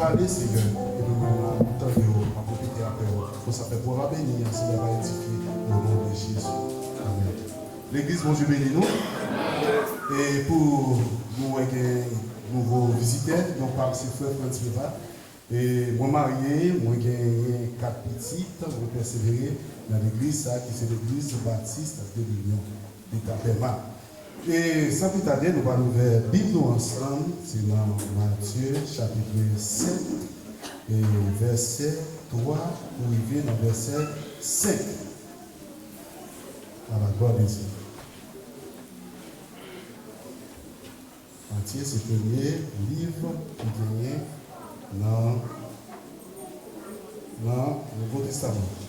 Pale Steven epi mwen menm la map tande w map repete aprè w fò sa pèp wava beni an se lè va edifye o non de jezi amen legliz bondye beni nou e pou nou wè gen nouvo vizitè non pam se frè frantz preva e mwen marye mwen genyen 4 pitit mwen pèsevere nan legliz sa ki se legliz batiste de l'union eta pèma. E san pi tade nou pral ouvè bib nou ansanm se nan Matye chapitre 7 e vèsè 3 pou rive nan vèsè 5 a la glwa de Dye. Matye se premye liv ki genyen nan nan nouvo testaman.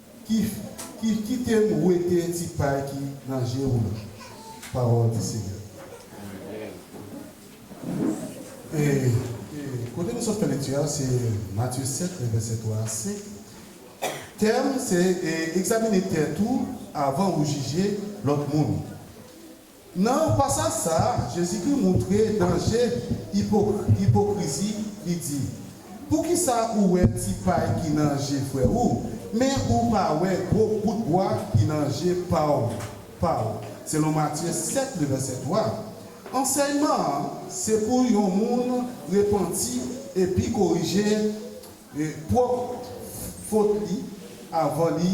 Kif kitem wete ti pay ki nan je ou lan pawol di seyè. Kote nou sot fè lekti a se Matye 7 men vèsè 3 a 5 tèm se egzamine tèt ou avan ou jije lòt moun. Nan pasaj sa a, Jezikri montre danje ipokrizi, li di, Poukisa ou wè ti pay ki nan je frè ou, men ou pa wè gwo kout bwa ki nan je pa ou? pa ou? selon Matye 7, le vèsè 3. Ansèyman an se pou yon moun repanti epi korije pwòp fot li avan li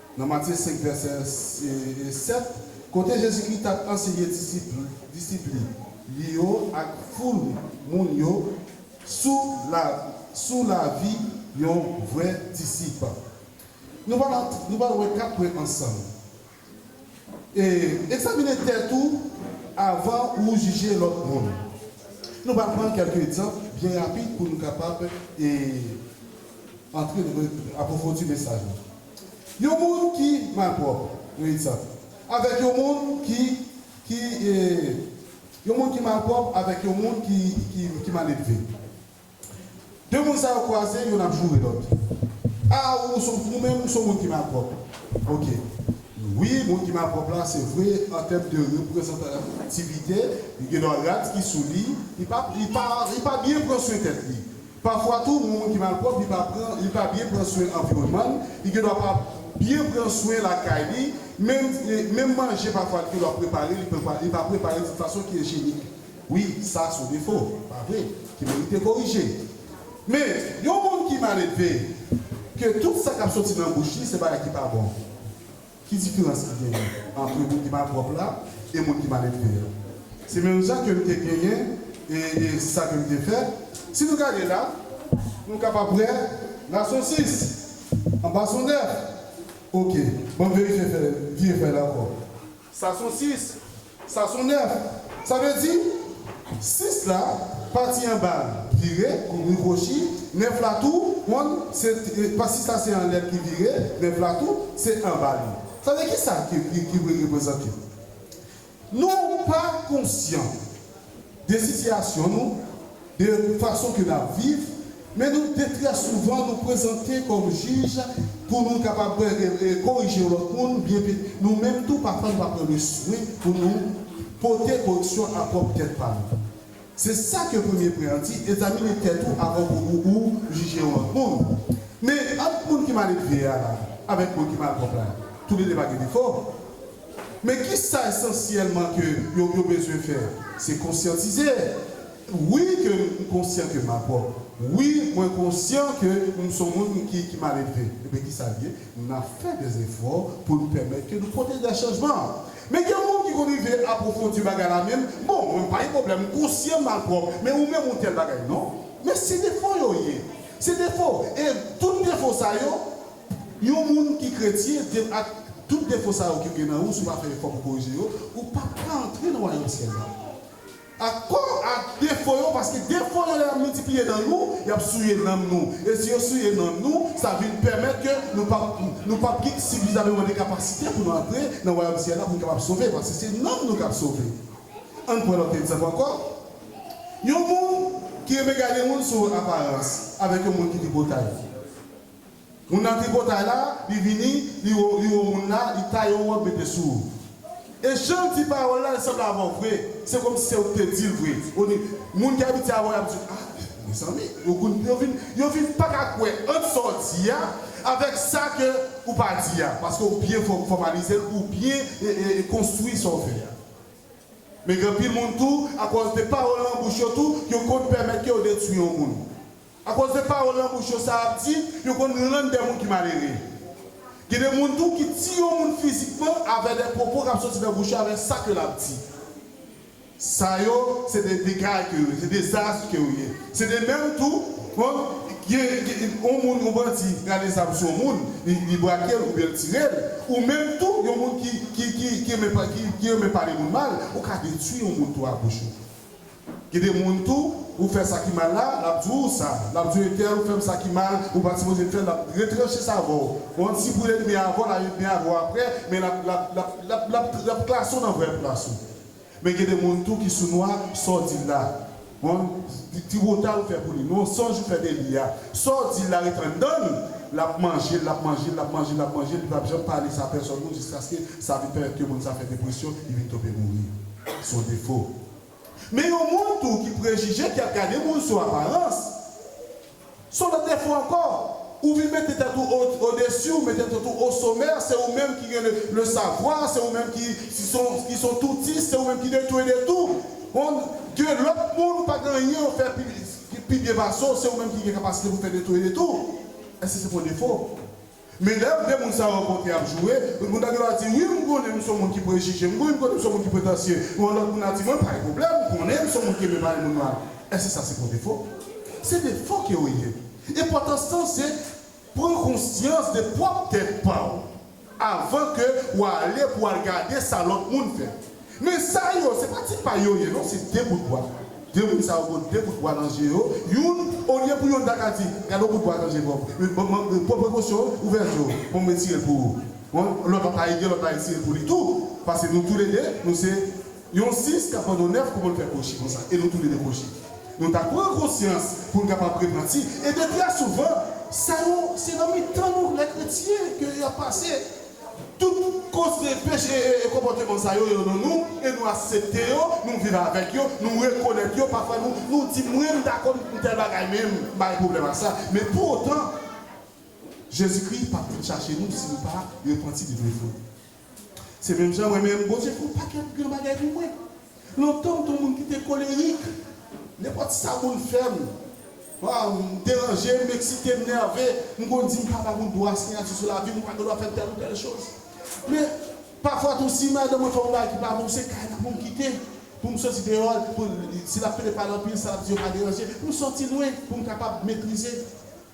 Nan Matye 5, vèsè 7, kote Jezikri t ap anseye disip li yo ak foul moun yo sou lavi yon vrè disip, nou pral wè kat pwen ansanm, Egzamine tèt ou avan ou jije lòt moun. Nou pral pran kèlke egzanp byen rapid pou nou kapab antre nan apwofodi mesaj la. Yon moun ki malpwòp, yon egzanp, avèk yon moun ki, ki, e, yon moun ki malpwòp avèk yon moun ki, ki, ki maledve. De moun sa yo kwaze, youn ap joure lòt. A, ou s on, ou menm ou s on moun ki malpwòp. Oke. Wi, moun ki malpwòp la, se vre, an tèm de reprezantativite, li gendwa rad ki sou li, li pa, li pa, li pa byen pran swen tèt li. Pafwa tou yon moun ki malpwòp li pa pran li pa byen pran swen anviwònman l, li gen dwa pa byen pran swen lakay li, menm menm manje pafwa li gen dwa prepare li pa li pa prepare l yon fason ki enjenik. Wi, sa s on defo, pa vre, ki merite korije. Men, yon moun ki maledve, ke tout sa k ap soti nan bouch li se bagay ki pa bon. Ki diferans ki genyen antre moun ki malpwòp la e moun ki maledve a? Se menm jan ke m te genyen e sa ke m te fè. Si nou gade la, nou kapab wè Lason 6, anba Son 9. Oke, banm verifye fèy, vire fèy la ankò. Sason 6, Sa son 9. Sa vle di, 6 la, pati anba l vire, kouvri kwochi, 9 la tou, konn, se, pa 6 la se anlè l ki vire, 9 la tou, se anba li. Sa vle di, ki sa ki vle reprezante? Nou pa konsyan. de sitiyasyon nou, de fason ke nap viv, men nou de trè souvan nou prezante kòm jij pou nou kapab korije yon lòt moun oubyen ke nou menm tou pafwa nou pa pran le swen pou nou pote koreksyon a pwòp tèt pa nou. Se sa ke premye pwen an di, egzamine tèt ou avan pou ou ou jije yon lòt moun. Men ant moun ki maledve a la avèk moun ki malpwòp la, tou le de pa gen defo? Men ki sa esansyèlman ke yo yo bezwen fè, se konsyantize. Wi ke m konsyan ke m apòt. Wi mwen konsyan ke m s on moun ki ki maledve. Enben ki sa l ye? N ap fè de zefò pou n pèmèt ke nou pote de chanjman an. Men gen moun ki konn rive apwofondi bagay la menm, bon mwen m pa gen pwoblèm, m konsyan m malpwòp, men ou menm ou tèl bagay. Non. Men se defo yo ye. Se defo. E tout defo sa yo, Yon moun ki kretyen di l ak tout defo sa yo ki gen nan ou si w pa fè efò pou korije yo, ou pap ka antre nan wayòm syèl la. Ak kò ak defo yo paske defo yo lè y ap miltipliye nan nou, y ap souye nanm nou e si yo souye nanm nou sa vin pèmèt ke nou pap nou pap gen sifizameman de kapasite pou nou antre nan wayòm syèl la pou nou kapab sove paske se nanm nou k ap sove. Ann pran lòt egzanp ankò, yon moun ki renmen gade moun sou aparans avèk yon moun ki tripotay. Moun nan tripotay la, li vini, li wo, li wo moun la, li taye yon wòb mete sou ou. E jan l di pawòl la, l sanble avè w vre. Se kòmsi se ou ki te di l vre. O ni, moun ki abitye avè w y ap di w, ah, mezanmi, yo konn, yo vin, yo vin pa ka kwè ant sa w di a avèk sa ke ou pa di a, paske ou byen fò, fòmalize l, ou byen e, e, e konstwi sa w fè a. Men gen anpil moun tou, akòz de pawòl nan bouch yo tou, yo konn pèmèt ke yo detwi yon moun. Akoz de pawòl nan bouch yo sa y ap di, yo konn rann de moun ki malere. Gen de moun tou ki ti yon moun fizikman avè de pwopo k ap soti nan bouch yo avè sa ke l ap di. Sa yo, se de degay ke yo ye, se dezas ke yo ye. Se de menm tou, on, gen, gen, on moun, on bandi rale zam sou on moun, li, li brake l oubyen l tire l, ou menm tou, yon moun ki, ki, ki, ki renmen pa, ki, ki renmen pale moun mal, ou ka detwi yon moun tou a bouch ou. Gen de moun tou ou fè sa ki mal la lap di w sa lap di w etèl ou fè m sa ki mal ou pat sipoze fèl lap retranche sa avè w kont si pou edmi avè w lap edmi avè w aprè men lap lap lap lap lap lap klase w nan vrè plas ou men gen de moun tou ki sou nwa sa w di la on tribotal ou fè pou li on sonj ou fè de li a sa w di la ret anndan l lap manje l lap manje l lap manje l lap manje l li pap janm pale sa pèsòn moun jiskaske sa vin fè ke moun sa fè depresyon li vin tonbe mouri son defo. Men yon moun tou ki prejije, ki ap gade moun sou aparans, se yon lòt defo ankò. Ou vin mete tèt ou odesi, ou mete tèt ou osomè, se ou menm ki gen le savwa, se ou menm ki ki son toutis, se ou menm ki de tou e de tou. On dieu lòt moun pa gen anyen yo fè pi byen pase w, se ou menm ki gen kapasite pou fè de tou e de tou. Èske se pa yon defo? Men lè vre moun sa yo rankontre y ap joure, tout moun ta dwe ap di, wi m konnen m s on moun ki prejije, m konnen m s on moun ki pretansye, men yon lòt moun ap di, mwen pa gen pwoblèm, m konnen m s on moun ki renmen pale moun mal. Èske sa se pou defo? Se defo ke yo ye. Enpòtans lan se pran konsyans de pwòp tèt pa w avan ke w ale pou w al gade sa lòt moun fè. Men sa yo se pa ti pay yo ye non se 2 bout bwa. 2 moun sa yo gon 2 bout bwa nan je yo, youn olye pou youn ta ka di gad on bout bwa nan je Bob, youn bon man pran prekosyon ouvè je w bon m retire l pou ou bon lòt la ta ede lòt la retire l pou li tou pase nou tou le 2 nou se yon 6 k ap vann on 9 kouman l fè kwochi konsa e nou tou le 2 kwochi nou ta pran konsyans pou n kapab reprann si e de trè souvan sa yo se nan mitan nou lè kretyen ke y ap pase. Tout koze peche e konpòteman sa yo, yo nan nou e nou asepte yo, nou viv avèk yo, nou rekonèt yo, pafwa nou nou di mwen m ta konn fè tèl bagay men m pa gen pwoblèm ak sa men pou otan Jezikri pap vin chache nou si nou pa repanti de defo nou. Se menm jan mwen menm, Bondye fè yon pakèt gran bagay pou mwen. Lontan m t on moun ki te kolerik. Nenpòt sa moun fè m, m deranje, m eksite, m nève, m konn di m pa ba moun dwa siyati sou lavi m, ou pa gen dwa fè m tèl ou tèl choz. Men, pafwa tou si madanm mwen fè m yon bagay ki pa bon, se kay la pou m kite, pou m soti deyò, si l ap pete pale anpil, sa l ap di yo pa deranje, pou m soti lwen, pou m kapab metrize.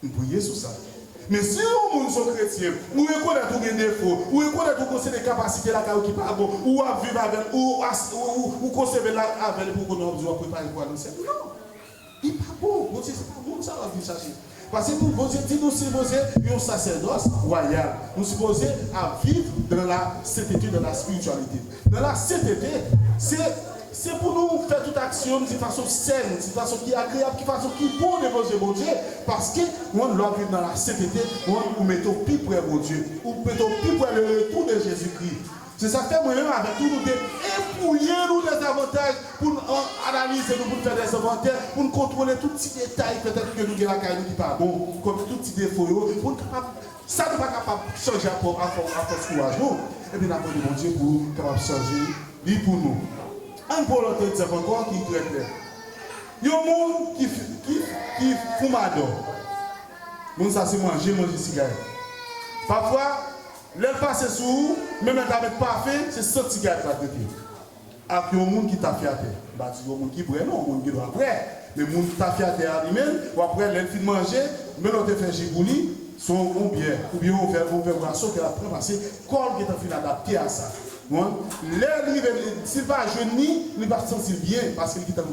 M priye sou sa. Men si yon moun son kretyen, ou rekonèt ou gen defo, ou rekonèt ou gon seri kapasite lakay ou ki pa bon, ou ap viv avè l, ou ou konseve l avè l epi ou konnen w ap di w ap prepare pou w al nan syèl. Non! Li pa bon. Bondye se pa moun sa w ap vin chache. Pase pou Bondye di nou sipoze yon sasèdòs wayal. Nou sipoze ap viv dan la sentete, dan la spirityalite. Nan lasyetete, se Se pou nou fè tout aksyon n di fason sèn, di fason ki agreyab, ki fason ki bon devan zye Bondye, paske, 1 lè w viv nan lasyetete, 1 ou mete w pi prè Bondye, ou mete w pi prè le retou de Jezikri. Se sa k fè mwen menm avèk ou nou te epouye nou de zavantaj pou n an analize nou, pou n fè de envantè, pou n kontwole tout ti detay petèt ke nou gen lakay nou ki pa bon, kòm si tout ti defo yo, pou n kapab Sa nou pa kapab chanje ak fòs kouraj nou, epi n ap mande Bondye pou l kapab chanje li pou nou. Ann pran lòt egzanp ankò ki trè klè. Yon moun ki foumadò. Moun sa se manje l manje sigarèt. Pafwa, lè l pase sou ou, menm lè l ta met pafen, se sant sigarèt l ap rete. ak yon moun ki tafyatè. M pa di yon moun ki prè non, moun gen dwa prè, men moun tafyatè a li menm, w ap wè lè l fin manje, men lè w te fè ji pou li, se yon yon byè oubyen yon vè yon vè bwason ke l ap pran pase kò l gentan fin adapte a sa. Ou konprann? Lè l rive li si l pa jwenn ni, li pa santi l byen paske l gentan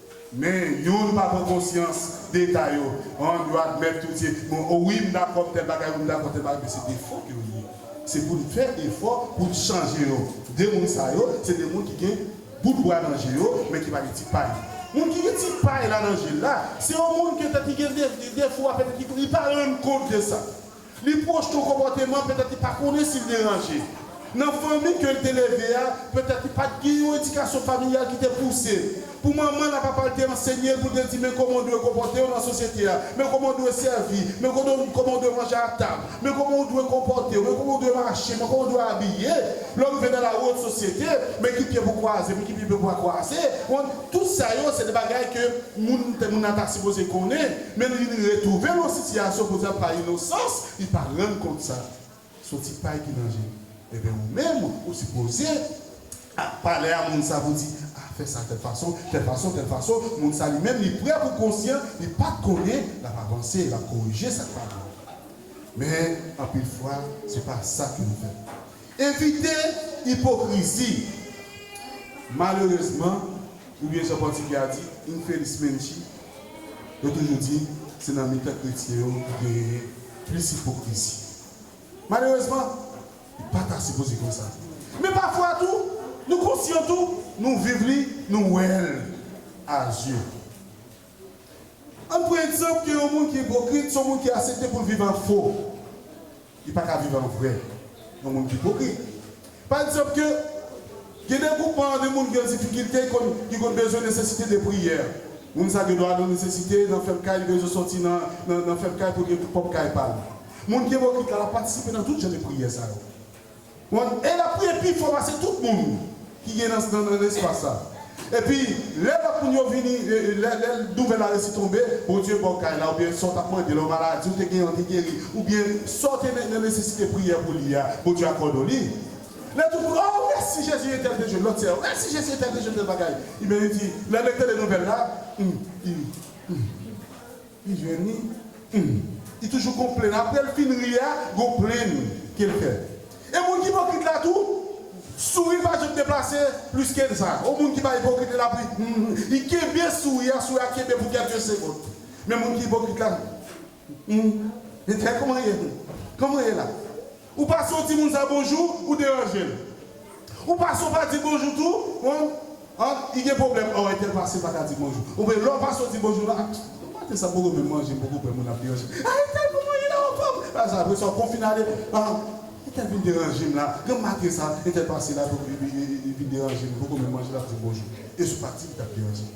Men youn pa pran konsyans deta yo an yo admèt tout se bon o wi m dakò tèl bagay wi m dakò tèl bagay men se defo ke yo ye se pou n fè efò pou n chanje yo de moun sa yo se de moun ki gen bout bwa nan je yo men ki pa gen ti pay moun ki gen ti pay la nan je l la se yon moun ke tèt li gen defo a petèt li pa rann kont de sa. Li pwojte yon konpòteman petèt li pa konnen si l deranje. Nan fanmi ke l te leve a, petèt li pa t gen yon edikasyon familyal ki te pouse l. Pou manman l a papa l te ansenye l pou l te di men kòman w dwe konpòte w nan sosyete a, men kòman w dwe sèvi, men kòman w dwe manje a tab, men kòman w dwe konpòte w, men kòman w dwe mache, men kòman w dwe abiye lè w rive nan lari wont sosyete, men ki pye pou w kwaze, men ki pye pou w pa kwaze. Tout sa yo se de bagay ke moun te moun nan ta sipoze konnen, men li vin retwouve l yon sitiyasyon kote l pa inosans, li pa rann kont sa. Son ti pay ki nan je l. Enben ou menm ou sipoze ap pale a moun sa pou di, a fè sa tèl fason, tèl fason, tèl fason, moun sa li menm li prè pou konsyan, li pat konnen, l ap avanse, l ap korije sa k pa bon. Men anpil fwa se pa sa ke nou fè. Evite ipokrizi! Malerezman, oubyen jan pòtigè a di, infelizmente, yo toujou di se nan mitan kretyen yo ki genyen plis ipokrizi. Malerezman, li pa ta sipoze konsa. Men pafwa tou, nou konsyan tou, nou viv li, nou wè l a zye. Ann pran egzanp ke yon moun ki ipokrit se yon moun ki asepte pou l viv an fo. Li pa ka viv an vrè. Yon moun ki ipokrit. Pa egzanp ke gen de gwoup an de moun ki an difikilte konn ki konn bezwen nesesite de priyè. Moun sa gen dwa nan nesesite nan fèm kay li bezwen sòti nan nan fèm kay pou l gen pwòp kay pa l. Moun ki ipokrit la l ap patisipe nan tout jan de priyè sa yo. Bon, e l ap priye pi fò pase tout moun ki gen nan nan espas la. Epi, lè lòt moun yo vini, lè lè nouvèl la resi tonbe, Bondye ba w kay la oubyen sa w t ap mande la, yon maladi ou te genyen ou te geri, oubyen sa w te nan nan nesesite priyè pou li a, Bondye akòde w li. Lè tout moun, O, mèsi Jezi entèl te jwenn, lòt sè yo, mèsi Jezi entèl te jwenn tèl bagay. Iben li di, lè l ete de nouvèl la, Hum, i, hum. Li jwenn li Humm li toujou gon plenn aprel fin ri a gon plenn kel fè e moun ki ipokrit la tou souri pa janm deplase plis knsa o moun ki pa ipokrit li lap ri Humm li kenbe souri a souri a kenbe pou kèlke segond men moun ki ipokrit la Humm Humm etèl kòman ye Humm kòman ye la. Ou pase w timoun sa bonjou ou deranje l ou pase w pa di bonjou tou bon an li gen pwoblèm ò entèl pase pa ka di bonjou ou byen lè w pase w di bonjou la bon maten sa m poko menm manje m poko bwè moun ap deranje m a entèl pou mwen li la anfòm li pa sa apresa w konfine ale an entèl vin deranje m la granm maten sa entèl pase la li vin deranje m m poko menm manje l ap di m bonjou e sou pa di li t ap deranje m.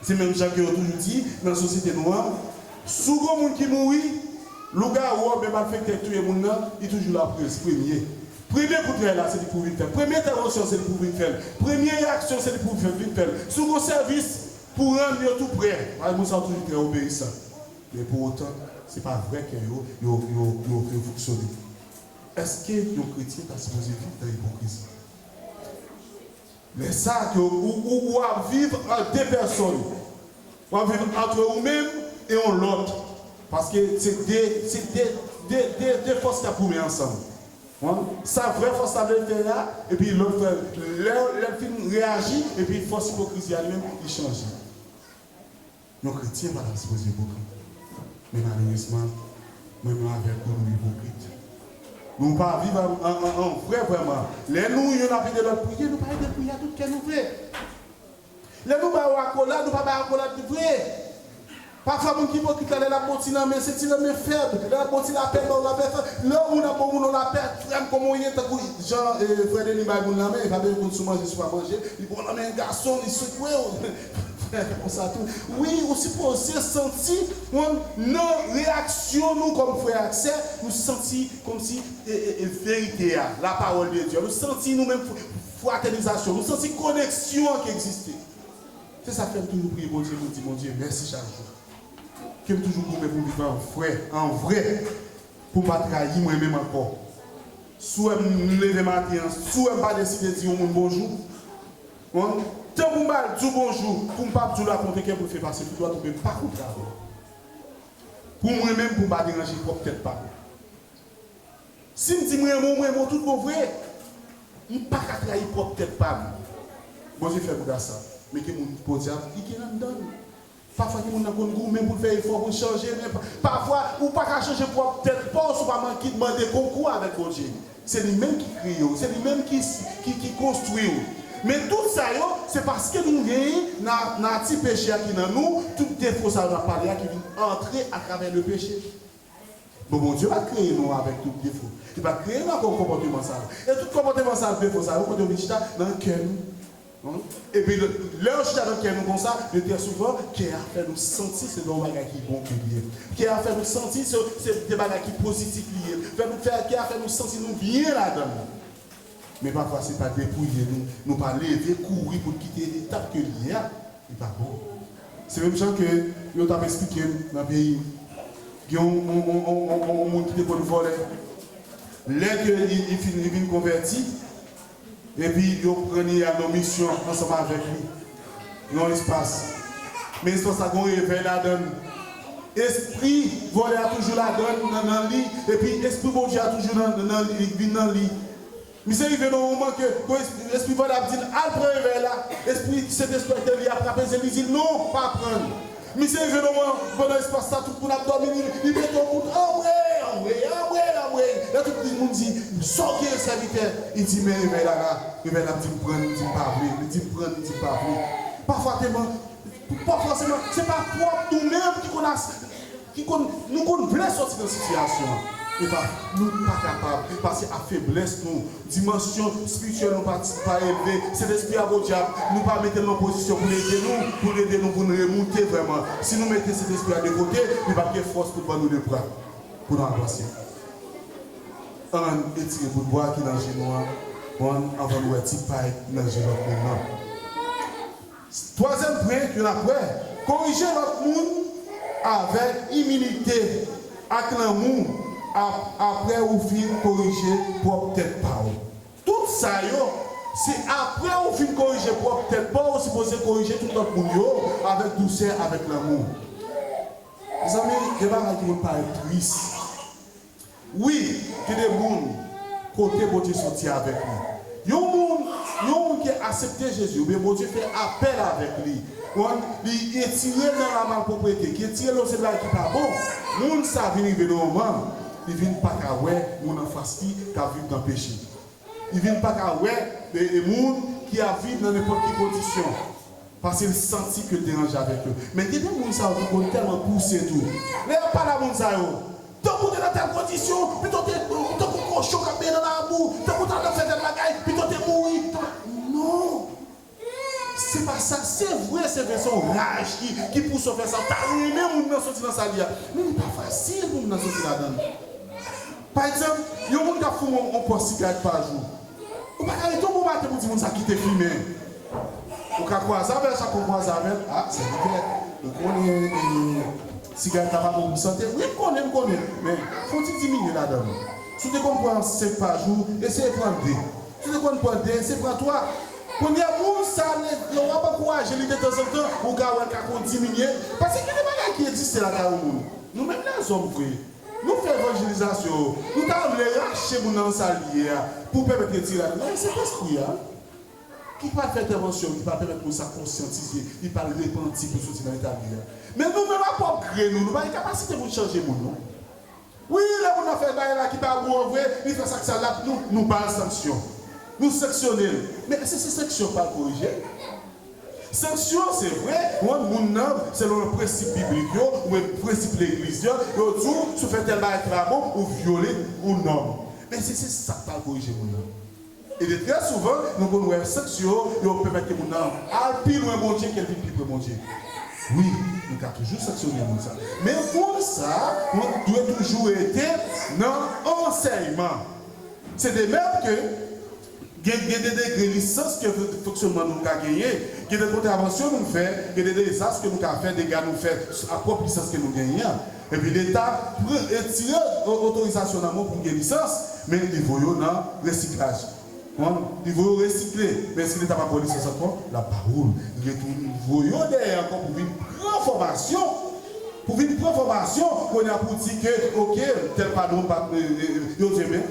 Se menm jan ke yo toujou di nan sosyete nou an, sou gon moun ki mouri, lougawou oubyen malfèktè ki touye moun nan, li toujou la pou espremye. Premye koutray la se li pou vin fè l, premye entèvansyon se li pou vin fè l, premye reyaksyon se li pou vin fè l, sou gon sèvis pou rann yo tou prè. Malgre moun sa yo toujou trè obeyisan, men pou otan se pa vrè kè yo yo fonksyone. Èske yon kretyen ta sipoze viv nan ipokrizi? Men sa ke ou ap viv an de pèsòn. Ou ap viv antre ou menm e yon lòt. Paske se de, se de, de, de, de fòs k'ap goumen ansanm. Konprann? Sa vrè fòs la vle fè a, epi lòt fè, lè, lè l fin reyaji, epi fòs ipokrizi a li menm li chanje. Yon kretyen pa ta sipoze ipokrit men malerezman mwen menm avèk ou nou ipokrit nou pa viv an vrè vrèman lè nou youn ap ede lòt priye nou pa edel priye a tout kè nou vre lè nou ba ou akolad nou pa bay akolad vre pafwa moun ki ipokrit la lè lap ba ou ti lanmen se ti lanmen fèb lè lap ba ou ti lapè ba ou lapè fèb lè yon moun ap ba ou yon lapè frèm kòman ou ye tankou jan frè Denis bay moun lanmen epa de li konn si w manje si w pa manje li ba w lanmen gason li sekwe w konsa tou wi ou sipoze santi moun nan reyaksyon nou kòm frè ak sè nou santi kòmsi verite a la pawòl de Dye a nou santi nou menm fratènizasyon nou santi koneksyon an ki egziste se sak fèm toujou priye Bondye poum di Bondye mèsi chak jou kem toujou goumen poum viv an frè an vrè poum pa trayi mwen menm ankò si w wèm leve maten an si w wèm pa deside di yon moun bonjou. Bon tan pou m ba l di w bonjou pou m pa di w la kontre kè pou l fè pase pou dwat ou menm pa kontre avè l pou mwen menm pou m pa deranje pwòp tèt pa m si m di m renmen w m renmen w tout bon vre m pa ka trayi pwòp tèt pa m Bondye fè m gras sa mete moun podyab li gen anndan l. Pafwa timoun nan konn goumen pou l fè efò pou l chanje, men pafwa ou pa ka chanje pwòp tèt pa w si w pa mande konkou avèk Bondye. Se li menm ki kreye w, se li menm ki konstwi w. Men tout sa yo, se paske nou gen nati peche a ki nan nou, tout defo sa yo n ap pale a ki vin antre atravè lepeche. Bon Bondye pa t kreye nou avèk tout defo. Li pa t kreye nou ak yon konpòteman sa yo. E tout konpòteman sa yo ak defo sa yo, kote yo vin chita? Nan kè nou. Epi lè yo chita nan kè nou konsa, byen trè souvan, kè a fè nou santi se yon bagay ki bon ou byen. Kè a fè nou santi se yon bagay ki pozitif li ye. Fè nou fè, kè a fè nou santi nou byen ladan l. Men pafwa se pa depouye nou, nou pa leve kouri pou n kite etap ke li ye a, li pa bon. Se menm jan ke yo tap esplike m nan peyi m, gen yon moun ki te konn vòlè, lè ke li fin li vin konvèti, epi yo pran li al nan misyon ansanm avèk li, Yon espas. Men espas sa gon revèy ladann. Espri vòlè a toujou ladann nan nan li epi espri Bondye a toujou nan nan li li k vin nan li. Misye rive nan yon moman ke gon espri espri vòlè a ap di l al pran revèy la, espri Sentespri a k nan li a frape zye l li di l non pa pran l. Misye rive nan mwen, pandan espas sa tout moun ap dòmi li rive tann moun anmweyy anmweyy anmweyy anmweyy lè tout li moun di sa w genyen sèvitè li di men revèy la la revèy la m di m pran li di m pa vle li di m pran li di m pa vle pafwa te man pafwa se man se pa fòt nou menm ki konn as ki konn nou konn vle sòti nan sitiyasyon e pa nou pa kapab pase ak feblès nou Dimansyon spirityèl nou pa ti, pa elve. Sentespri a podyab nou pa mete l nan pozisyon pou l ede nou, pou l ede nou pou n remoute vrèman. Si nou mete Sentespri a de kote, li p ap gen fòs pou l ban nou de bra pou nou avanse. Ann etire bout bwa ki nan je nou an bon anvan nou wè ti pay nan je lòt moun nan. Twazyèm pwen ke n ap wè, korije lòt moun avèk imilite ak lanmou ap apre ou fin korije pwòp tèt pa w. Tout sa yo, se apre ou fin korije pwòp tèt pa w, ou sipoze korije tout lòt moun yo avèk dousè, avèk lanmou. Mezanmi, gen bagay ki pou n parèt tris. Wi, gen de moun kote Bondye soti avèk li. Yon moun, yon moun ki asepte Jezi, oubyen Bondye fè apèl avèk li, konprann, li retire l nan lamalpwoprete, ki retire l nan yon seri bagay ki pa bon, moun sa a vin rive nan yon moman, li vin pa ka wè moun anfas li k ap viv nan peche. Li vin pa ka wè moun ki ap viv nan nenpòt ki kondisyon. Paske l santi ke l deranje avèk yo. Men gen de moun sa yo ki konn tèlman pouse tou. Lè y ap pale a moun sa yo. Tankou w te nan tèl kondisyon, pito w te, ou tankou kochon k ap benyen nan labou, tankou w ta nan fè tèl bagay, pito w te mouri, tankou. Non! Se pa sa. Se vre, se vre, se yon raj ki, ki pouse yo fè sa. Ou ta renmen moun nan soti nan sa l ye a. Men li pa fasil pou moun nan soti ladan l. Pa egzanp, yon moun k ap foumen yon pòs sigarèt pa jou. Ou pa ka ret yon bon maten pou di moun sa kite fimen. Ou ka kwaze avè l chak fwa w kwaze avè l. A, sèvitè, ou konnen e, sigarèt la pa bon pou sante. Wi, m konnen, m konnen. Men, fè yon ti diminye ladan l. Si w te konn pran senk pa jou, eseye pran de. Si w te konn pran de, eseye pran twa. Kounye a, moun sa lè w ap ankouraje li detanzantan, ou ka wè l ka konn diminye. Paske gen de bagay ki egziste lakay yon moun. Nou menm lèzòm vre, Nou fè evanjelizasyon, nou ta vle rache moun nan nan sa li ye a pou pèmèt retire l, men se Lespri a ki pral fè entèvansyon l, ki pral pèmèt moun sa konsyantize, li pral repanti pou l soti nan eta li a. Men nou menm ak pwòp gre nou, nou pa gen kapasite pou n chanje moun non. Wi, lè moun nan fè bagay la ki pa bon an vre, li fè sa k sal la, nou ba l sanksyon, nou sanksyone l, men èske se sanksyon k pral korije l? Sanksyon, se vre, rann moun nan selon prensip biblik yo oubyen prensip legliz yo, yo di w si w fè tèl bagay ki pa bon, ou vyole yon nòm. Men si se sa k pral korije moun nan? E de trè souvan, nou konn wè sanksyon yo, yo pèmèt ke moun nan al pi lwen Bondye ke l vin pi pre Bondye. Wi, nou ka toujou sanksyone moun sa. Men moun sa dwe toujou rete nan ansèyman. Se de mèm ke. Gen gen de degre lisans ke fonksyonman nou ka genyen, gen de kontravansyon nou fè, gen de dezas ke nou ka fè, dega nou fè a pwòp lisans ke nou genyen an. Epi leta pran retire otorizasyon nan men w pou w gen lisans, men li voye w nan resiklaj. Konprann? Li voye w resikle. Men èske leta pa ba w lisans ankò? L ap ba ou l. Li retounen li voye w dèyè ankò pou w vin pran fòmasyon. Pou w vin pran fòmasyon, kounye a pou w di ke ok, tèl pa non, m pa, yo di men,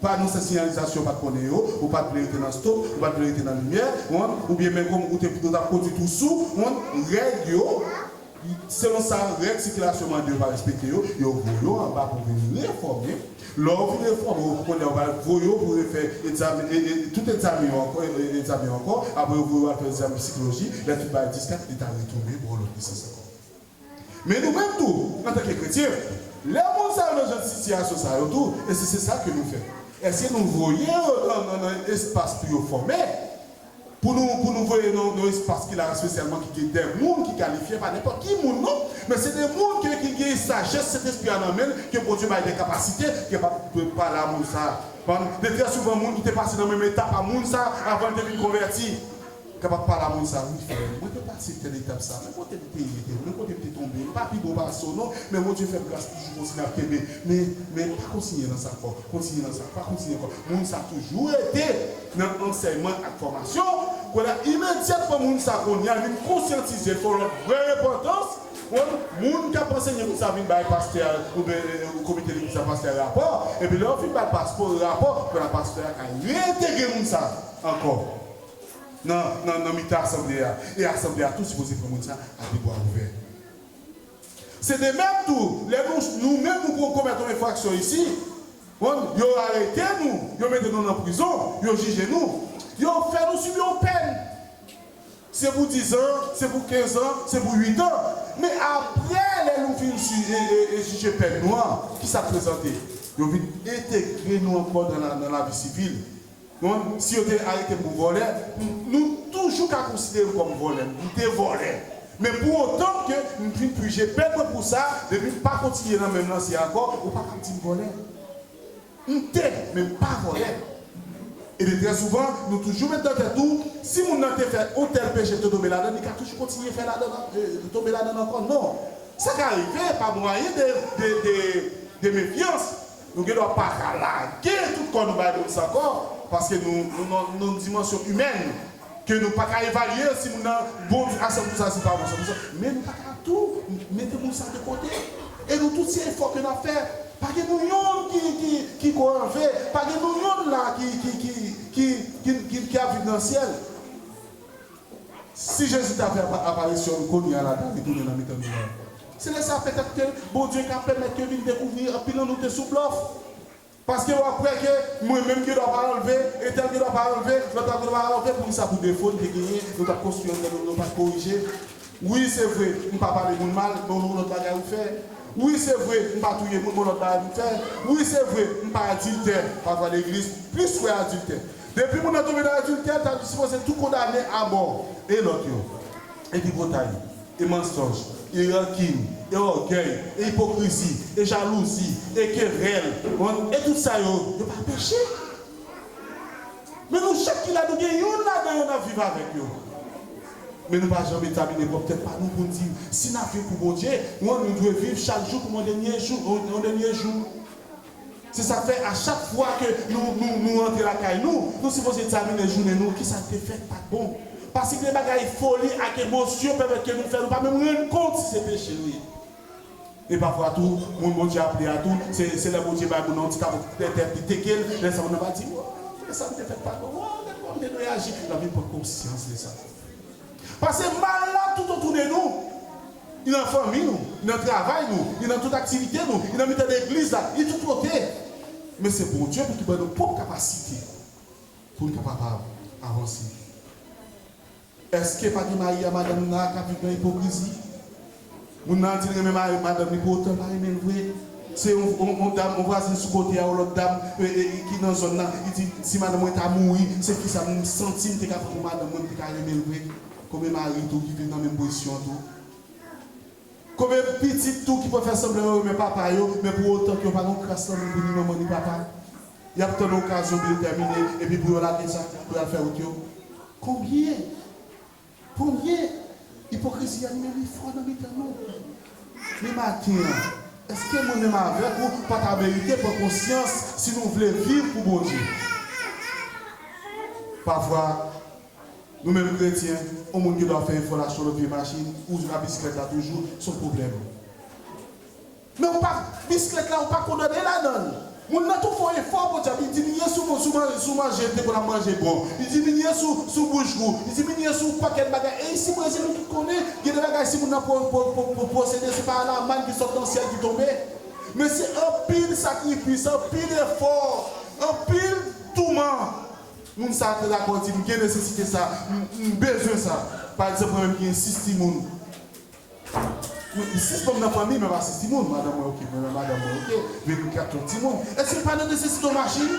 Pa nou se siyalizasyon ou pat konnen yo, ou pat vle rete nan stop, ou pat vle rete nan limyè, wont, ou byen men kòm ou te ou tap kondwi tou sou, wont, règ yo, selon sa règ sikilasyon mande ou pa respekte yo, yo voye ou anba pou vin refòme, lè ou fin refòme ou konnenw ou pral voye ou pou refè egzame e e tout egzamen yo ankò e e egzamen yo ankò, apre yo voye ou al fè egzame psikloji, lè tout bagay diskak li ta retounen bò lòt lisans ankò. Men nou menm tou, antanke kretyen, lè moun sa yo nan jan de sitiyasyon sa yo tou, e si se sa ke nou fè, èske nou voye yo nan nan nan yon espas pou yo fòme, pou nou pou nou voye nan yon espas ki la espesyalman ki gen dè moun ki kalifye, pa nenpòt ki moun non, men se de moun ke ki gen sajès Sentespri a nan men l, ke Bondye bay dè kapasite, ke pa dwe pale a moun sa a, konprann? De trè souvan moun ki te pase nan menm etap a moun sa a avan l te vin konvèti. Kapab pale a moun sa wi frèm. Mwen te pase tèl etap sa. Men kote m te ye tou. Men kote m te tonbe. M pa pi bon pase w non. Men Bondye fè m gras toujou kontinye ap kenbe. Men men pa kontinye nan sa ankò. Kontinye nan sa. Pa kontinye ankò. Moun sa toujou rete nan ansèyman ak fòmasyon. Kounye a imedyatman moun sa kounye a vin konsyantize l fè yon lòt vrè repantans. Ou wè m? Moun k ap ansenye moun sa vin bay pastè a oubyen komite legliz la pastè a rapò. Epi lè yo fin bay pastè rapò, kounye a pastè a ka reentegre moun sa ankò. nan nan mitan asanble a e asanble a tou sipoze pran moun sa a de bwa ouvè. Se de menm tou lè nou nou menm nou pou komèt yon enfraksyon isi, konprann, yo arete nou, yo mete nou nan prizon, yo jije nou, yo fè nou sibi yon pèn. Se pou dizan, se pou kenzan, se pou uitan. Men aprè lè nou fin si e e e jije pèn nou an, kisa k prezante? Yo vin entegre nou ankò nan la nan lavi sivil. Bon si yo te arete m pou vòlè nou toujou ka konsidere m kòm vòlè m te vòlè men pou otan ke m vin pije pèn mwen pou sa depi m pa kontinye nan menm lanse a ankò ou pa ka ap di m vòlè m te men m pa vòlè e de trè souvan nou toujou met nan tèt ou si moun nan te fè yon tèl peche l te tonbe ladann li ka toujou kontinye fè ladann an tonbe ladann ankò non sa ka rive pa mwayen de de de de mefyans Nou gen dwa pa ka lage tout kò nou bay moun sa ankò, paske nou nan yon dimansyon imèn ke nou pa ka evalye si moun nan bon tou asèm tou sa, si l pa bon asèm tou sa. Men nou pa ka tou mete moun sa de kote. E nou tout se efò ke n ap fè. Pa gen nou yonn ki ko anve. Pa gen nou yonn la ki ap viv nan syèl. Si Jezi ta fè aparisyon l kounye a la ta retounen nan mitan nou la. Se lè sa a petèt ke Bondye ka pèmèt yo vin dekouvri anpil nan nou te sou blòf. Paske wap kwè ke mwen menm gen dwa pa anlve, entèl gen dwa pa anlve, lòt la gen dwa pa anlve poukisa pou defo n te genyen nou pat konstwi anndan nou, nou pat korije. Wi se vre m pa pale moun mal bon yon lòt bagay ou fè Wi se vre m pa touye moun bon lòt bagay m fè Wi se vre m pa adiltè pa pran legliz plis kwè adiltè Depi moun nan tonbe nan adiltè ta dispoze tou kondane abò e lòt yo E tripotay e mansonj e rankin e ògèy e ipokrizi e jalouzi e kerèl on e tout sa yo yo pa peche? Men nou chak ki la nou gen youn ladan yo n'ap viv avèk yo. Men nou pa janm egzamine pwòp tèt pa nou pou n' di si n'ap viv pou Bondye ou an nou dwe viv chak jou kòm yon dènye jou, yon dènye jou. Se sa k' fè a chak fwa ke nou, nou, nou rantre lakay nou, nou sipoze egzamine jounen nou, ki sa k' te fèt, pa t' bon. Paske gen bagay foli ak emosyon pèmèt ke nou fè nou pa menm rann kont si se peche nou ye. E pafwa tou, moun Bondye aple a tou, se se lè Bondye bay moun nan yon ti kado nan tèt li, teke l, lè sa moun nan va di, Woo, lè sa m te fèt pa bon, woo, gad kòman m te dwe aji. L ap vin pran konsyans de sa. Pase mal la toutotou de nou, li nan fanmi nou, li nan travay nou, li nan tout aktivite nou, li nan mitan legliz la, li tout kote. Men se Bondye pou ki ban nou pwòp kapasite pou n kapabab avanse. Eske pa gen mari a madanm li nan ak a viv nan ipokrizi? Moun nan di l renmen mari madanm li pou otan l pa renmen l vre. Se yon yon dam yon vwazin sou kote a yon lòt dam ki nan zòn nan li di si madanm mwen ta mouri se kisa m santi m te ka pran pou madanm mwen m te ka renmen l vre. Konbyen mari tou ki viv nan menm pozisyon an tou? Konbyen pitit tou ki pral fè sanblan yo renmen papa yo men pou otan ke yo pa gen yon kras lanmou pou ni manman ni papa? Y ap tann okazyon pou yo tèmine epi pou yo lage sa pou y al fè wout yo. Konbyen Konbyen ipokrizi anime li fò nan mitan nou. Men maten an, èske mwen menm avèk ou pa ta merite pran konsyans si nou vle viv pou Bondye? Pafwa, nou menm kretyen, yon moun gen dwa fè efò l al sou yon lòt vye machin ou jwenn nan bisiklet la toujou, s on pwoblèm. Men ou pa bisklèt la ou pa kondane ladanl. Moun nan tou fon efò podyab li diminye sou sou manje sou manje li te konn ap manje bon li diminye sou sou bouch gou li diminye sou pakèt bagay e isi brezil nou tout konnen gen de bagay si moun nan po po po posede se pa la mann ki sot nan syèl ki tonbe men se anpil sakrifis anpil efò anpil touman moun sa te dakò di m gen nesesite sa m m bezwen sa pa egzanp mwen menm ki gen 6 timoun. Mwen gen 6 manm nan fanmi mwen pa 6 timoun madanm mwen ok mwen nan madanm mwen ok men nou 4 lòt timoun èske nou pa nan nesesite yon machin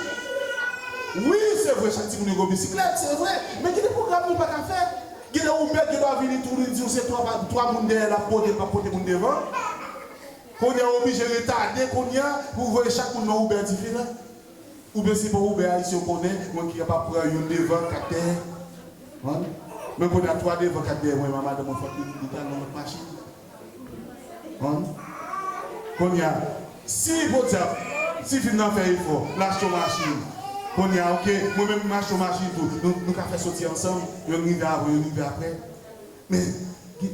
wi se vre chak timoun yo gen yon bisiklèt se vre men gen de pwogram nou pa ka fè gen lè yon mèt gen dwa vini tou li diw se 3 pa 3 moun dèyè lap pote pap pote moun devan kounya oblije retade kounya pou voye chak moun nan Uber diferan. Oubyen si bon Uber Haiti yo konnen mwen ki kapab pran youn devan 4 dèyè wan men kounye a 3 devan 4 dèyè mwen a madanm mwen fòk li li tal nan lòt machin wan kounye a si podyab ti fi m nan fè efò l achte yon machin kounye a ok mwen menm m achte yon machin tou nou nou ka fè soti ansanm youn rive avan youn rive aprè men gen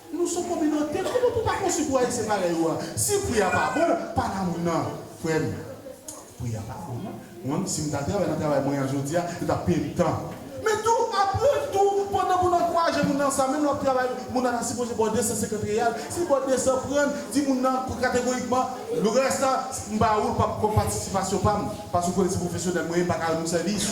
Nou son kominote kouman pou pa konstwi pou ayisyen parèy ou a si pri a pa bon pa nan moun nan frèm pri a pa bon non mwen menm sim ta travay nan travay mwen an jodia yo tap peyem tan men tou aprann tou pandan moun nan ankouraje moun nan sa menm lè wap travay moun nan ta sipoze baw 250 real sil baw 200 prann di moun nan kategorikman le rès la m pa oul pap kom patisipasyon pam paske ou konnen se pwofesyonèl mwen ye m paka rann ou sèvis.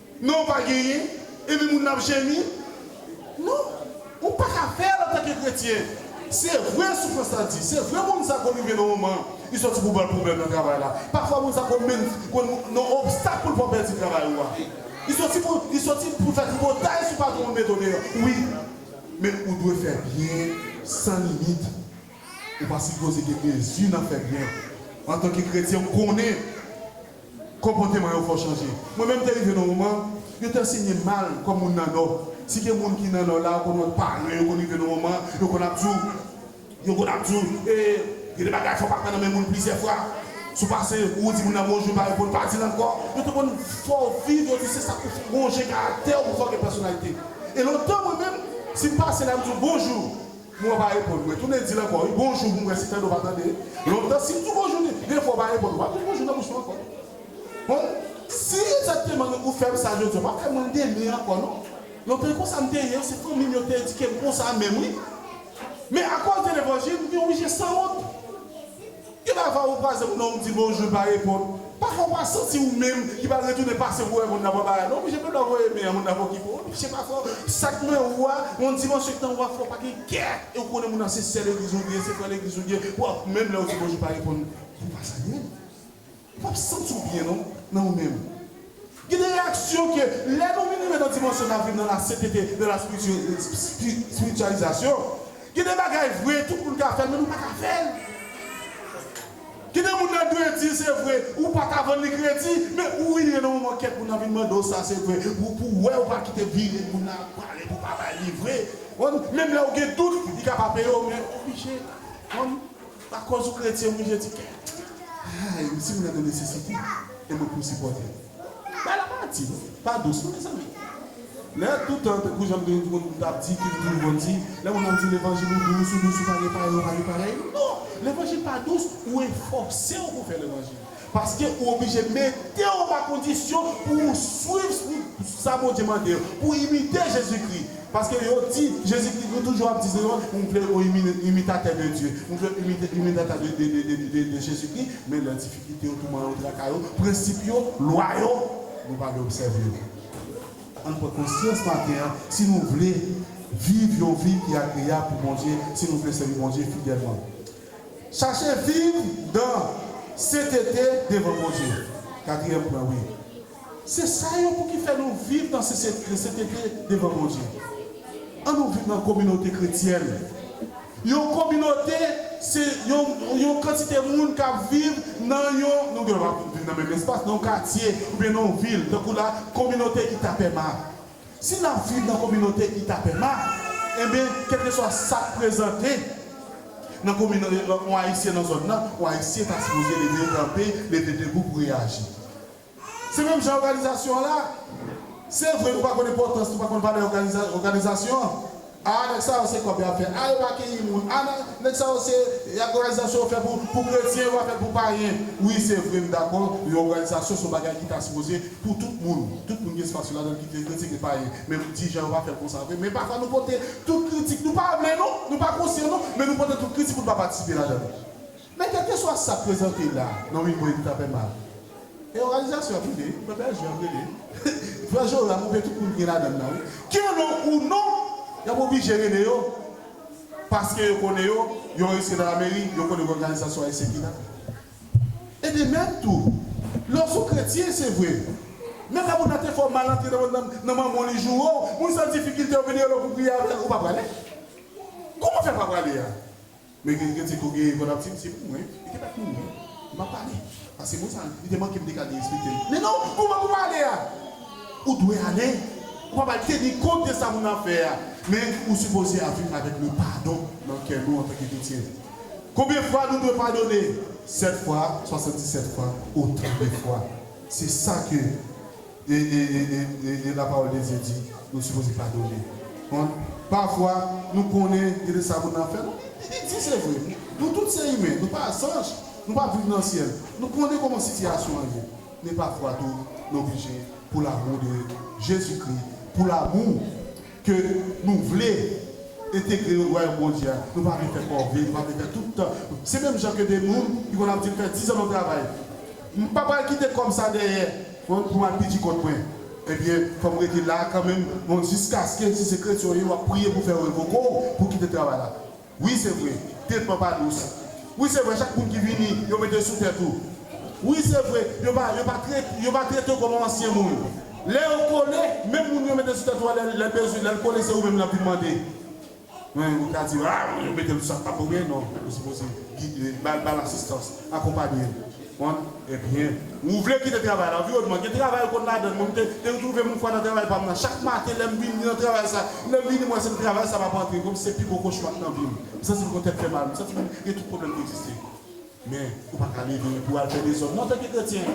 Non pa genyen, epi moun nan ap jemi? Non, ou pa ka fè l antanke kretyen. Se vre soufrans la di, se vre moun sa konn rive nan moman li sòti pou ba l pwoblèm nan travay la. Pafwa moun sa konn menm konn yon obstak pou l fè w pèdi travay ou a. Li sòti pou li sòti pou l fè tripotay sou patwon l mete w deyò. Wi, men ou dwe fè byen san limit. Ou pa sipoze gen mezi nan fè byen. Antanke kretyen, ou konnen. Konpòteman yo fò chanje. Mwen menm te rive nan yon moman, yo te ansenye m mal kòm moun nan Nò. Si gen moun ki nan Nò la, ou konn wè paran yo konn rive nan yon moman, yo konn ap di w, yo konn ap di w, e, gen de bagay fò w pa pran nan men moun plizyè fwa. Si w pase, ou di moun nan bonjou, l pa reponn, pa di l ankò. Yo te konn fè w viv, yo di se sa pou fè w wonje karaktè w, pou fè w gen pèsonalite. E lontan mwen menm, si m pase la, m di w bonjou. Mwen pa reponn mwen tounen dil ankò wi bonjou pou m wè si Fedoo pa tande lontan si m di bonjou li gen fwa w pa reponn ou pa met bonjou nan bouch mwen ankò bon si egzakteman ou fè m sa jodi a ou pa fè mwen demen ankò non lontan e konsa m te ye se fanmi m yo ki te edike m konsa menm wi men akòz de levanjil m gen oblije sanwont. Gen pa fwa ou kwaze moun nan ou di bonjou li pa reponn, pa fwa ou pa santi ou menm ki pral retounen pase pou wè moun nan pran bagay non oblije pèpla voye men an moun nan pokipe ou oblije pa fwa sak nan ou a yon dimansyon ki nan ou a fwa ou pa gen kè e ou konnen moun nan se sè legliz ou ye se frè legliz ou ye pou menm lè ou di bonjou li pa reponn fwa ou pa salye l. Ou pap santi w byen non nan ou menm. Gen de reyaksyon ke lè nou vin rive nan dimansyon nap viv nan la sentete de la spirityalizasyon, gen de bagay vre tout moun ka fèl men nou paka fèl. Gen de moun nan dwe di se vre ou paka vann li kredi men ou vin rive nan moman kèk moun nan vin mande w sa se vre pou w wè ou pa kite vire moun nan ap pale pou pa bay li vre. Menm lè ou gen dout li ka pa peye w men ou oblije. A kòz ou kretyen wi je di kè. Hay si moun nan nan nesesite e mwen pou sipòtel. Bay la pa di non. Pa dous non mezanmi. Lè toutan tankou janm gen yon moun tap di ki toujou konn di lè moun ap di levanjil ou dous ou dous ou pa gen parèy ou pa gen parèy non levanjil pa dous ou efòsew pou fè levanjil. Paske ou oblije mete w anba kondisyon pou ou swiv sa Bondye mande yo, pou w imite Jezikri. Paske yo di Jezikri, nou toujou ap di se yon, nou vle yon imitatè de Dye, nou vle yon imitatè de Jezikri, men lè difikilte yo, touman yo, traka yo, prensip yo, lwa yo, nou pa vle obsève yo. Ann pran konsyans maten an, si nou vle viv yon vi ki agreyab pou Bondye, si nou vle sèvi Bondye fidèlman. Chache viv dan sentete devan Bondye. Katriyèm pwen wi. Se sa yo pou ki fè nou viv dan sentete devan Bondye. An nou viv nan kominote kretyèn. Yon kominote se yon yon kantite moun k ap viv nan yon, nou gen dwa pa viv nan menm espas, nan yon katye oubyen nan yon vil tankou la kominote Itapema. Si n ap viv nan kominote ki tape ma, enben kèlkeswa sa k prezante nan kominote yon Ayisyen nan zòn nan, yon Ayisyen ta sipoze leve kanpe, leve debou pou reyaji. Se menm jan òganizasyon an la. Se vre nou pa konn enpòtans, nou pa konn valè òganizasyon an. Aa nèg sa yo se kòb yap fè aa yo pa keyi moun aa nan nèg sa yo se òganizasyon yo fè pou pou kretyen yo pa fèl pou payen wi se vre m dakò yon òganizasyon son bagay ki ta sipoze pou tout moun tout moun gen espas yo ladann ki gen kretyen gen payen men m di jan yo pa fèl konsa vre men pafwa nou pote tout kritik nou pa vle nou nou pa konsyan nou men nou pote tout kritik pou nou pa patisipe ladann. Men kèlkeswa sa prezante la nan Wingo epi ta fè mal e òganizasyon ap rele, pèp Bèljè ap rele. Frè Joram oubyen tout moun ki gen ladann nan wi. Ke lè w ou non, y ap oblije rele yo paske yo konnen yo, yo anrejistre nan lameri, yo konnen gen òganizasyon ayisyen ki la. E de menm tou, lè w s on kretyen, se vre, men lè moun nan te fè w mal antre nan manman w li joure w, moun san difikilte yo vin rele w pou w priye avè l, ou pa prale? Kouman w fè pa prale a? Men gen gen teko gen vwa lapti misye pou mwen li te met mouri map pale paske moun sa li te mankem dega li respektem men non kouman pou pale a ou dwe ale ou pa pral teni kont de sa moun nan ap fè a men ou sipoze ap viv avèk le padon nan kè nou antanke kretyen konbyen fwa nou dwe padone 7 fwa 77 fwa otan de fwa se sa ke. E, e, e, e, e, e la pawòl de Dye di nou sipoze padone moun. Pafwa nou konnen gen de sa moun nan fè nou. E li di se vre. Nou tout se imen, nou pa zanj, nou pa viv nan syèl. Nou konnen kòman sitiyasyon an ye. Men pafwa tou nou oblije pou lamou de Jezikri, pou lamou. Ke nou vle entegre yo Wayòm Bondye a, nou pa vle fè kòve, nou pa vle fè tout tan. Se menm jan ke de moun ki konn ap di m fè dizan nan travay, m pa pral kite kòb sa dèyè pou m al pidi kont mwen. Ebyen, fò m rete la a kanmenm jiskaske, si se kretyen w ye, w ap priye pou fè yo revoke w pou w kite travay la. Wi se vre, tretman pa dous. Wi se vre, chak moun ki vini, yo mete sou tèt ou. Wi se vre, yo pa yo pa trete yo pa trete w kòm ansyen moun. Lè yo kole, menm moun yo mete sou tèt ou a lè lè l bezwen lè l kole se ou menm l ap vin mande. Men ou ka di yo, a yo mete l sou sa k pa pou men non, ou sipoze gide l, ba l ba l asistans, akonpanye l. Mwen, Ebyen, ou vle kite travay la? Viwoz, Mwen gen travay ou konn ladann mwen, m te te retwouve m yon fwa nan travay pa m nan. Chak maten lè m vin, m nan travay sa. Lè m vini, m wè se m travay sa m ap antre kòm si se pi gwo kochma k nan vi m. M santi m konn tèt fè mal, m santi m gen tout pwoblèm ki egziste. Men, ou pa ka leve pou w al fè dezòd non antanke kretyen.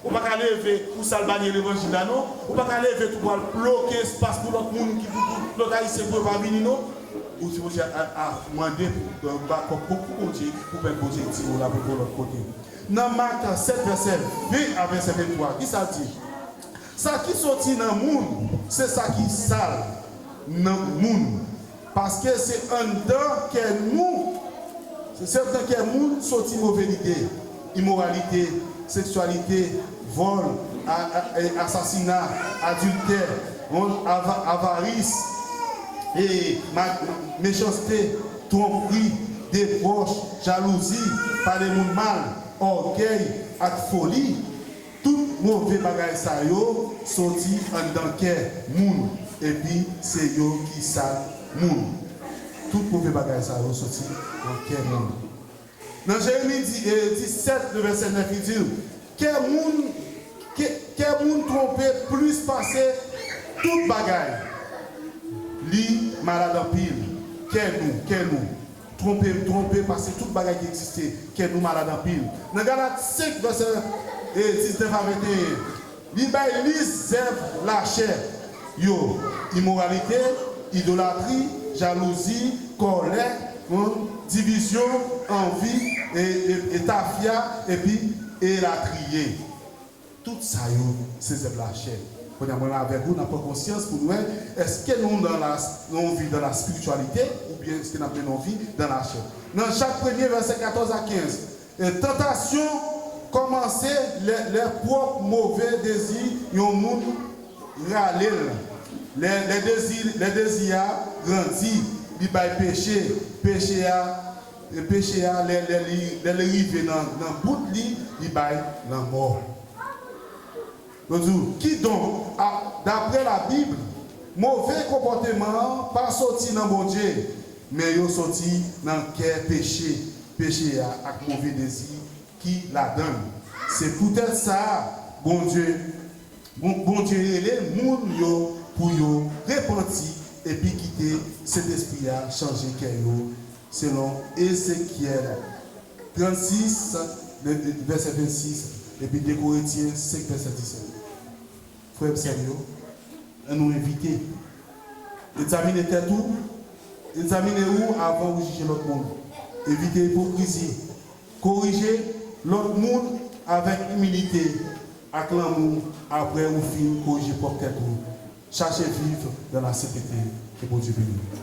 Ou pa ka leve pou w salbanye levanjil la non. Ou pa ka leve tou pou w al bloke espas pou lòt moun ki pou pou lòt Ayisyen pou yo pa vini non. Ou di bondye af mande pou bakop pou kou bondye pou pèp bondye di ou la pou kou lòt kote nan mak 7 vèsè 20 a vèsè 23 kisa l di sa ki soti nan moun se sa ki sal nan moun paske se anndan kè nou se anndan kè moun soti move lide. imoralite, seksyalite, vòl, asasina, adiltè, wont, avaris, mechanste, twonpri, debòch, jalouzi, pale moun mal, ògèy ak foli. Tout move bagay sa yo soti anndan kè moun epi se yo ki sal moun. Tout move bagay sa yo soti nan kè moun. Nan Jeremi 17, nan vèsè 9, li di l, Kè moun, kè moun twonpe plis pase tout bagay. Li malad anpil. Kè nou, kè nou, twonpe, twonpe pase tout bagay ki egziste. Kè nou malad anpil. Nan Galat 5, vèsè 19 a 21. Li bay lis zèv lachè yo, imoralite, idolatri, jalouzi, kòlè, wonn, divizyon, anvi, e tafya, epi elatriye. Tout sa yo se zèv lachè. Kounye a, mwen avèk ou n ap pran konsyans pou n wè èske nou nan yon vi dan laspirityalite oubyen èske n ap mennen yon vi dan lachè. Nan Jak premye vèsè 14 a 15, E tantasyon kòmanse lè lè pwòp move dezi yon moun rale l, lè lè dezi lè dezi a grandi li bay peche, peche a peche a lè lè li lè li rive nan nan bout li li bay lanmò. Yo di w, Kidonk, a, dapre Labib, move konpòteman an pa soti nan Bondye, men yo soti nan kè peche, peche a ak move dezi ki ladan l. Se poutèt sa Bondye, bon, Bondye rele moun yo pou yo repanti epi kite Sentespri a chanje kè yo, selon Ezekyèl. 36, men, vèsè 26, epi 2 Korentyen 5 vèsè 17. Frè m sè m yo, an nou evite egzamine tèt ou, egzamine ou avan ou jije lòt moun. Evite ipokrizi. Korije lòt moun avèk imilite ak lanmou apre ou fin korije pwòp tèt ou. Chache viv dan lasentete. Ke Bondye beni nou.